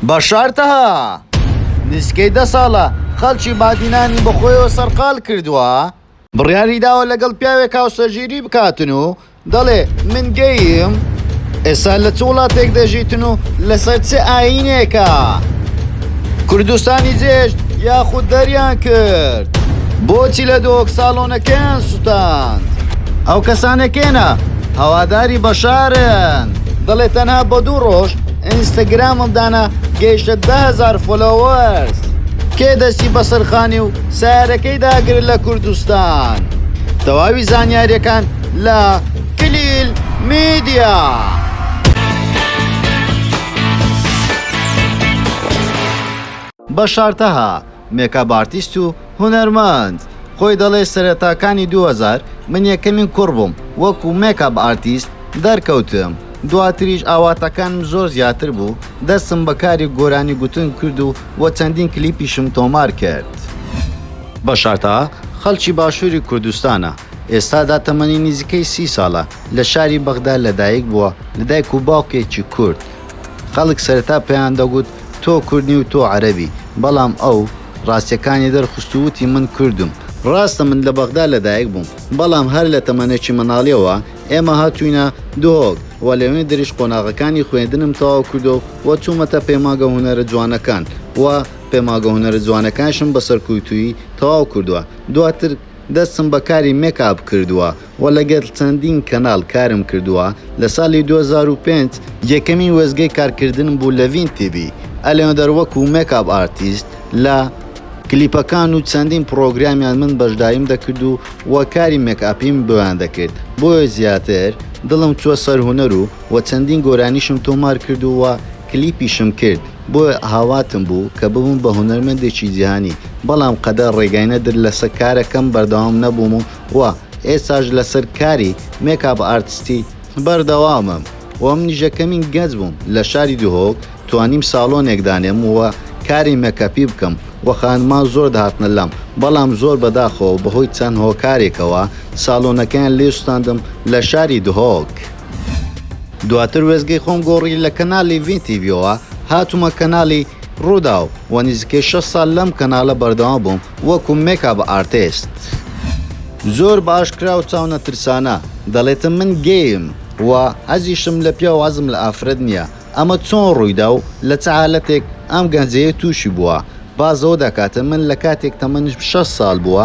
بەشار تەها، نزیکەی دە ساڵە خەڵکی بادینانی بەخۆیەوە سەرقاڵ کردووە، بڕیاری داوە لەگەڵ پیاوێک هاوسەرگیری بکاتن و دەڵێ من گەییم، ئێستا لە چ وڵاتێک دەژیتن و لەسەر چ ئایینێکە کوردستانی جێهێشت یاخود دەریان کرد؟ بۆچی لە دهۆک ساڵۆنەکەیان سوتاند؟ ئەو کەسانە کێنە هەواداری بەشارن؟ دەڵێ تەنها بە دوو ڕۆژ ئینستاگرامم دانا گەیشتە دە هەزار فۆلۆوەرس کێ دەستی بەسەر خانی و سەیارەکەی داگرت لە کوردستان تەواوی زانیاریەکان لە کلیل میدیا. بەشار تەها، مێکاپ ئارتیست و هونەرمەند خۆی دەڵێ سەرەتاکانی دوو هەزار من یەکەمین کوڕ بووم وەکو مێکاپ ئارتیست دەرکەوتم دواتریش ئاواتەکانم زۆر زیاتر بوو دەستم بە کاری گۆرانی گوتن کرد و وە چەندین کلیپیشم تۆمار کرد. بەشارتا خەڵکی باشووری کوردستانە، ئێستادا تەمەنی نزیکەی سی ساڵە، لە شاری بەغدا لەدایک بووە لە دایک و باوکێکی کورد، خەڵک سەرەتا پێیان دەگوت تۆ کورد نی و تۆ عەرەبی، بەڵام ئەو ڕاستییەکانی دەرخست و وتی من کوردم. ڕاستە من لە بەغدا لەدایک بووم، بەڵام هەر لە تەمەنێکی منداڵییەوە ئێمە هاتووینە دهۆک و لەوێندریش قۆناغەکانی خوێندنم تەواو کردووە و چوومەتە پەیمانگە هونەرە جوانەکان و پەیمانگە هونەرە جوانەکانیشم بە سەرکووتوویی تەواو کردووە، دواتر دەستم بە کاری مێک ئاپ کردووە. وە لەگەل چەندین کەناڵ کارم کردووە لە سالی دوو هەزار و پێنج یەکەمین وێستگەی کارکردنم بوو لە ڤین تیڤی ئەلێندەر وەکو مێک ئاپ ئارتیست لە کلیپەکان و چەندین پڕۆگرامیان من بەشداریم دەکرد و وە کاری مێک ئاپیم بۆیان دەکرد بۆیە زیاتر دڵم چووە سەر هونەر و وە چەندین گۆرانیشم تۆمار کرد و وە کلیپیشم کرد بۆیە هاواتم بوو کە ببم بە هونەرمەندێکی جیهانی بەڵام قەدەر ڕێگای نەدر لەسە کارەکەم بەردەوام نەبووم و و ئێستاش لەسەر کاری مێک ئاپ ئارتستی بەردەوامم و منیش لە کەمین گەنج بووم لە شاری دهۆک توانیم ساڵۆنێک دانێم و کاری مێکەپی بکەم و خانمان زۆر دەهاتنە لام بەڵام زۆر بەداخەوە بەهۆی چەند هۆکارێکەوە ساڵۆنەکەیان لێ سوتاندم لە شاری دهۆک دواتر وێستگەی خۆم گۆڕی لە کەنالی ڤین تیڤیەوە هاتوومە کەنالی رووداو و نزیکەی شەش ساڵ لەم کەناڵە بەردەوام بووم وەکو مێک ئاپ ئارتێست. زۆر باش کرا و چاو نەترسانە دەڵێتم من گەیم و حەزیشم لە پیاو حەزم لە ئافرەت نییە ئەمە چۆن ڕوویدا و لە چ حالەتێک ئەم گەنجەیە تووشی بووە باس لەوە دەکاتە من لە کاتێک تەمەنم شەش سال بووە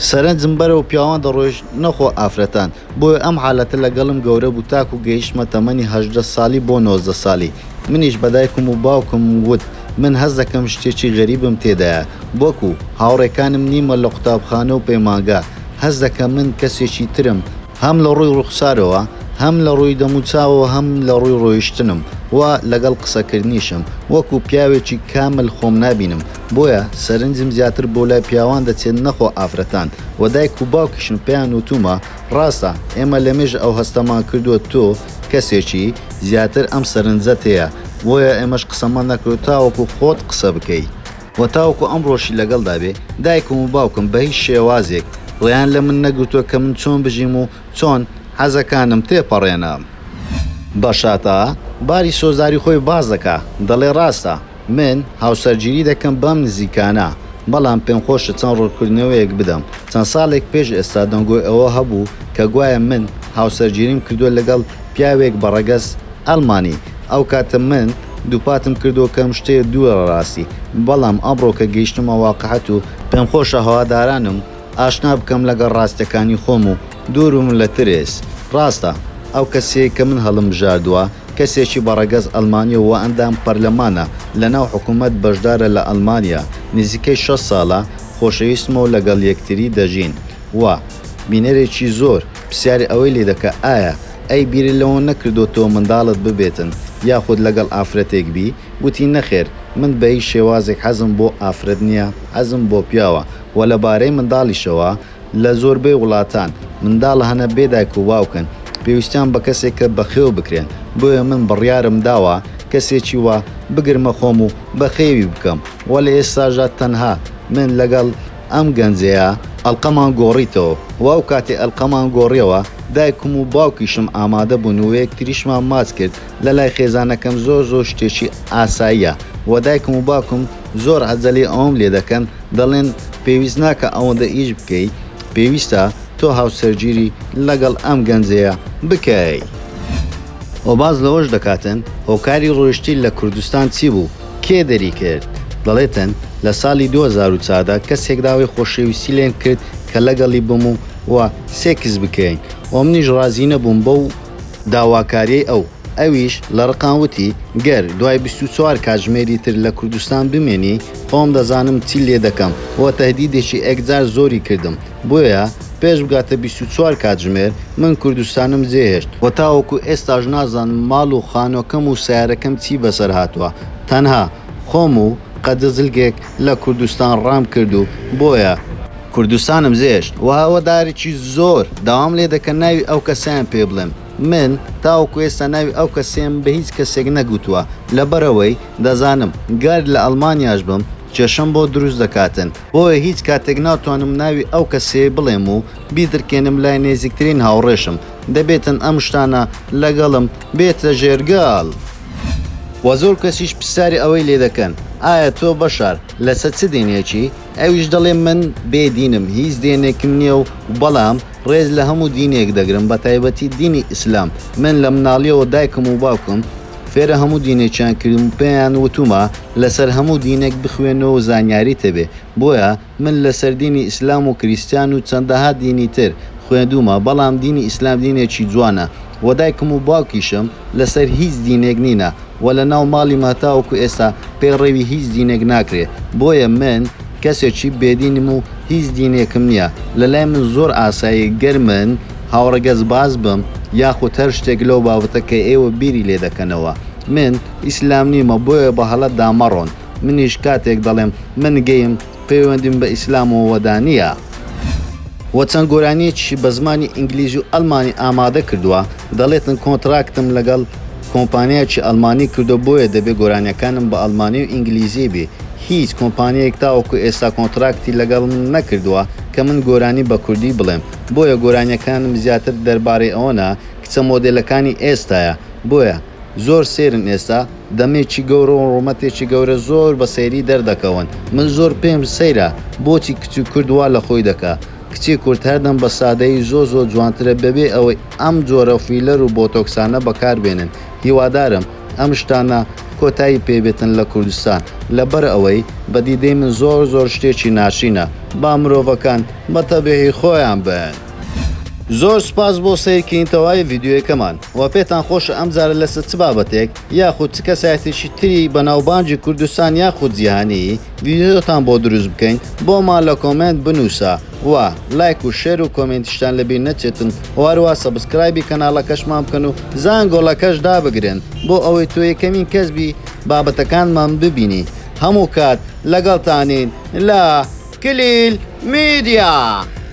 سەرنجم بەرەو پیاوان دەڕۆیشت نەخۆ ئافرەتان بۆیە ئەم حالەتە لەگەڵم گەورە بوو تاکو گەیشتمە تەمەنی هەژدە ساڵی بۆ نۆزدە ساڵی منیش بە دایکم و باوکم وت من هەست دەکەم شتێکی غەریبم تێدایە وەکو هاوڕێکانم نیمە لە قوتابخانە و پەیمانگا هەست دەکەم من کەسێکی ترم هەم لە ڕووی ڕوخسارەوە هەم لە ڕووی دەم و چاوەوە هەم لە ڕووی ڕۆیشتنم و لەگەڵ قسەکردنیشم وەکو پیاوێکی کامل خۆم نابینم بۆیە سەرنجم زیاتر بۆ لای پیاوان دەچێت نەخۆ ئافرەتان، وە دایک و باوکیشم پێیان وتوومە ڕاستە ئێمە لەمێژە ئەو هەستەمان کردووە تۆ کەسێکی زیاتر ئەم سەرنجەت هەیە بۆیە ئێمەش قسەمان نەکردووە تاوەکو خۆت قسە بکەی و تاوەکو ئەمڕۆشی لەگەڵدا بێ دایکم و باوکم بە هیچ شێوازێک ڕێیان لە من نەگرتووە کە من چۆن بژیم و چۆن حەزەکانم تێپەڕێنم. بەشاتا باری سۆزداری خۆی باس دەکا دەڵێ ڕاستە، من هاوسەرگیری دەکەم بەم نزیکانە، بەڵام پێمخۆشە چەند ڕوونکردنەوەیەک بدەم. چەند ساڵێک پێش ئێستا دەنگۆی ئەوە هەبوو کە گوایە من هاوسەرگیریم کردووە لەگەڵ پیاوێک بە ڕەگەز ئەڵمانی. ئەو کاتە من دووپاتم کردەوە کە ئەم شتەیە دوورە لە ڕاستی، بەڵام ئەمڕۆ کە گەیشتمە واقعیەت و، پێمخۆشە هەوادارانم ئاشنا بکەم لەگەڵ ڕاستیەکانی خۆم و دووربم لە ترس، ڕاستە ئەو کەسەیە کە من هەڵمبژاردووە، کەسێکی بە ڕەگەز ئەلمانیە و ئەندام پەرلەمانە لە ناو حکومەت بەشدارە لە ئەلمانیا نزیکەی شەست سالە خۆشەویستمە و لەگەڵ یەکتری دەژین و بینەرێکی زۆر پسیاری ئەوەی لێ دەکا ئایا ئەی بیرت لەوە نەکردۆتەوە مندالت ببێتن یاخود لەگەڵ ئافرەتێک بی وتی نەخێر من بە هیچ شێوازێک حەزم بۆ ئافرەت نیە حەزم بۆ پیاوە و لە بارەی مندالیشەوە لە زۆربەی وڵاتان منداڵ هەنە بێ دایک و باوکن پێویستیان بە کەسێکە بەخێو بکرێن، بۆیە من بڕیارم داوە کەسێکی وا بگرمە خۆم و بەخێوی بکەم و لە ئێستاشدا تەنها من لەگەڵ ئەم گەنجەیە، ئەڵقەمان گۆڕیتەوە و ئەو کاتەی ئەڵقەمان گۆڕیەوە دایکم و باوکیشم ئامادە بوون و یەکتریشمان ماچ کرد، لە لای خێزانەکەم زۆر زۆر شتێکی ئاساییە و دایکم و باوکم زۆر عەجەلەی ئەوەم لێ دەکەن دەڵێن پێویست ناکا ئەوەندە ئیش بکەی پێویستە تۆ هاوسەرگیری لەگەڵ ئەم گەنجەیە بکەی. و باس لەوەش دەکاتن هۆکاری ڕۆیشتی لە کوردستان چی بوو کێ دەری کرد دەڵێتن لە ساڵی دوو هەزار و چار دا کەسێک داوای خۆشەویستی لێم کرد کە لەگەڵی بم و سێکس بکەین و منیش ڕازی نەبووم بەو داواکاریی ئەو. ئەویش لە ڕقان وتی، گەر دوای بیست و چوار کاتژمێری تر لە کوردستان بمێنی، خۆم دەزانم چی لێ دەکەم و تەهدیدێکی ئێکجار زۆری کردم، بۆیە پێش بگاتە بیست و چوار کاتژمێر من کوردستانم جێهێشت و تاوەکو ئێستاش نازانم ماڵ و خانووەکەم و سەیارەکەم چی بەسەر هاتووە، تەنها خۆم و قەدزلگێک لە کوردستان ڕام کرد و بۆیە کوردستانم زێشت وە هەوەدارێکی زۆر داوام لێ دەکەن ناوی ئەو کەسەیان پێ بڵێم من تاوەکو ئێستا ناوی ئەو کەسەیەم بە هیچ کەسێک نەگوتوە لەبەرئەوەی دەزانم گەر لە ئەڵمانیاش بم کێشەم بۆ دروست دەکاتن بۆیە هیچ کاتێک ناتوانم ناوی ئەو کەسەیە بڵێم و بیدرکێنم لای نێزیکترین هاوڕێشم دەبێتن ئەم شتانە لەگەڵم بێتە ژێرگەڵ. وە زۆر کەسیش پرسیاری ئەوەی لێ دەکەن ئایا تۆ بەشار لەسەر چ دینێکی؟ ئەویش دەڵێ من بێ دینم هیچ دێنێکم نیە و بەڵام ڕێز لە هەموو دینێک دەگرم بە تایبەتی دینی ئیسلام من لە مناڵیەوە دایکم و باوکم فێرە هەموو دینێکیان کردم و پێیان وتومە لەسەر هەموو دینێک بخوێنەوە و زانیاریت هەبێ بۆیە من لەسەر دینی ئیسلام و کریستیان و چەندەها دینی تر خوێندوومە بەڵام دینی ئیسلام دینێکی جوانە وە دایکم و باوکیشم لەسەر هیچ دینێک نینە وە لەناو ماڵیمە تاوەکو ئێستا پەیڕەوی هیچ دینێک ناکرێ بۆیە من کەسێکی بێدینم و هیچ دینێکم نیە لەلای من زۆر ئاساییە گەر من هاوڕەگەزباز بم یاخود هەر شتێک لەو بابەتە کە ئێوە بیری لێدەکەنەوە من ئیسلام نیمە بۆیە بەهەڵەدا مەڕۆن. منیش کاتێک دەڵێم من گەیم پەیوەندیم بە ئیسلامەوەدا نییە. وە چەند گۆرانیەکیشی بە زمانی ئینگلیزی و ئەلمانی ئامادە کردووە دەڵێتن کۆنتراکتم لەگەڵ کۆمپانیایەکی ئەلمانی کردووە بۆیە دەبێ گۆرانیەکانم بە ئەلمانی و ئینگلیزی بی هیچ کۆمپانیەیەک تاوەکو ئێستا کۆنتراکتی لەگەڵ من نەکردووە کە من گۆرانی بە کوردی بڵێم بۆیە گۆرانیەکانم زیاتر دەربارەی ئەوەنە کچە مۆدێلەکانی ئێستایە بۆیە زۆر سەیرن ئێستا دەمێکی گەورە و ڕوومەتێکی گەورە زۆر بە سەیری دەردەکەون من زۆر پێم سەیرە بۆچی کچی کورد وا لە خۆی دەکا کچی کورد هەردەم بە سادەیی زۆر زۆر جوانترە بەبێ ئەوەی ئەم جۆرە فیلەر و بۆتۆکسانە بەکار بێنن هیوادارم ئەم شتانە کۆتایی پێ بێتن لە کوردستان لەبەر ئەوەی بە دیدەی من زۆر زۆر شتێکی ناشرینە با مرۆڤەکان بە تەبیعی خۆیان بن. زۆر سوپاس بۆ سەیر کردنی تەواوی ڤیدیۆیەکەمان وە پێتان خۆشە ئەم جارە لەسەر چ بابەتێک یاخود چ کەسایەتێکی تری بەناوبانگی کوردستان یاخود جیهانی ڤیدیۆتان بۆ دروست بکەین بۆمان لە کۆمێنت بنووسە وە لایک و شێر و کۆمێنتیشتان لەبیر نەچێتن وە هەروەها سەبسکرایبی کەناڵەکەشمان بکەن و زانگۆڵەکەش دابگرن بۆ ئەوەی تۆ یەکەمین کەس بی بابەتەکانمان ببینی هەموو کات لەگەڵتانین لە کلیل میدیا.